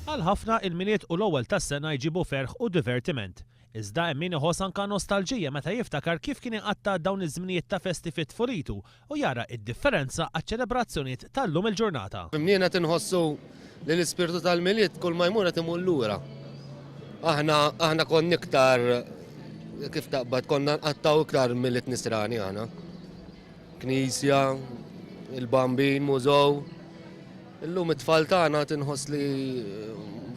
Għal ħafna, il-Milied u l-ewwel tas-sena jġibu ferħ u divertiment. Iżda hemm min iħoss anka nostalġija meta jiftakar kif kien iqatta' dawn iż-żminijiet ta' festi fi tfulitu u jara id-differenza għaċ-ċelebrazzjonijiet tal-lum il-ġurnata. Flimkien qed inħossu li l-ispirtu tal-Milied kulma jmur qed imur lura. Aħna aħna konna iktar kif taqbad konna nqattgħu iktar Milied Nisrani aħna. Knisja, il-Bambin, mużew. Illum it-tfal tagħna tinħoss li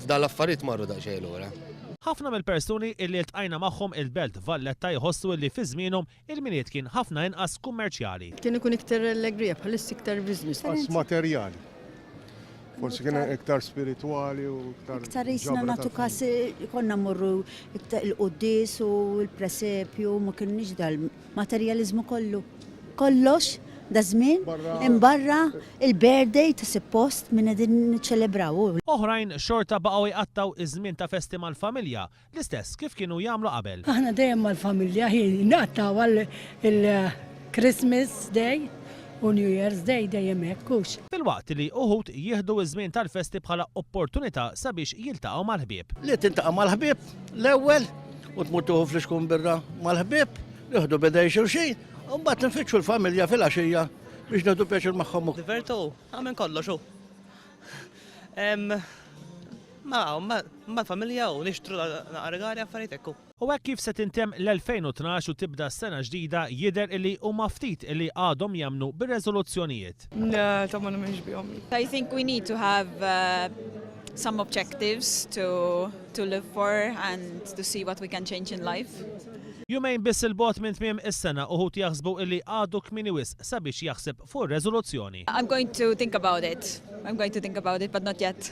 f'dan l-affarijiet marru daqsxejn lura. Ħafna mill-persuni illi ltqajna magħhom il-Belt Valletta jħossu illi fi żmienhom il-Milied kien ħafna inqas kummerċjali. Kien ikun iktar allegrija, bħalissa iktar business. Inqas materjali. Forsi kien iktar spiritwali u iktar. Iktar isna nagħtu kas konna mmorru il-quddies u l-presepju ma kienniex dal Materjaliżmu kollu. Kollox daż-żmien imbarra il-birthday ta' suppost min qegħdin niċċelebraw. Oħrajn xorta baqgħu jqattgħu ż-żmien ta' festi mal-familja l-istess kif kienu jagħmlu qabel. Aħna dejjem mal-familja hi nqattgħu għal il-Christmas Day u New Year's Day dejjem hekk, hux? Filwaqt li uħud jieħdu ż-żmien tal-festi bħala opportunità sabiex jiltaqgħu mal-ħbieb. Li tintaqa' mal-ħbieb L-ewwel u tmur tuħu fl-iskun birra mal-ħbib, nieħdu bidej xulxin, u mbagħad nfittxu l-familja fil-għaxija biex nagħtu pjaċir magħhom. Divertu, għamil kollox u. Ma, ma, ma familja u nixtru naqargari affarijiet ekku. U hekk kif se tintem l-2012 u tibda s-sena ġdida jidher illi huma ftit illi għadhom jemmnu bir-reżoluzzjonijiet. Ta' ma nemminx bihom. I think we need to have uh, some objectives to, to live for and to see what we can change in life. Jumejn biss 'il bogħod minn tmiem is-sena uħud jaħsbu illi għadu kmieni wisq sabiex jaħseb fuq ir-reżoluzzjoni. I'm going to think about it. I'm going to think about it but not yet.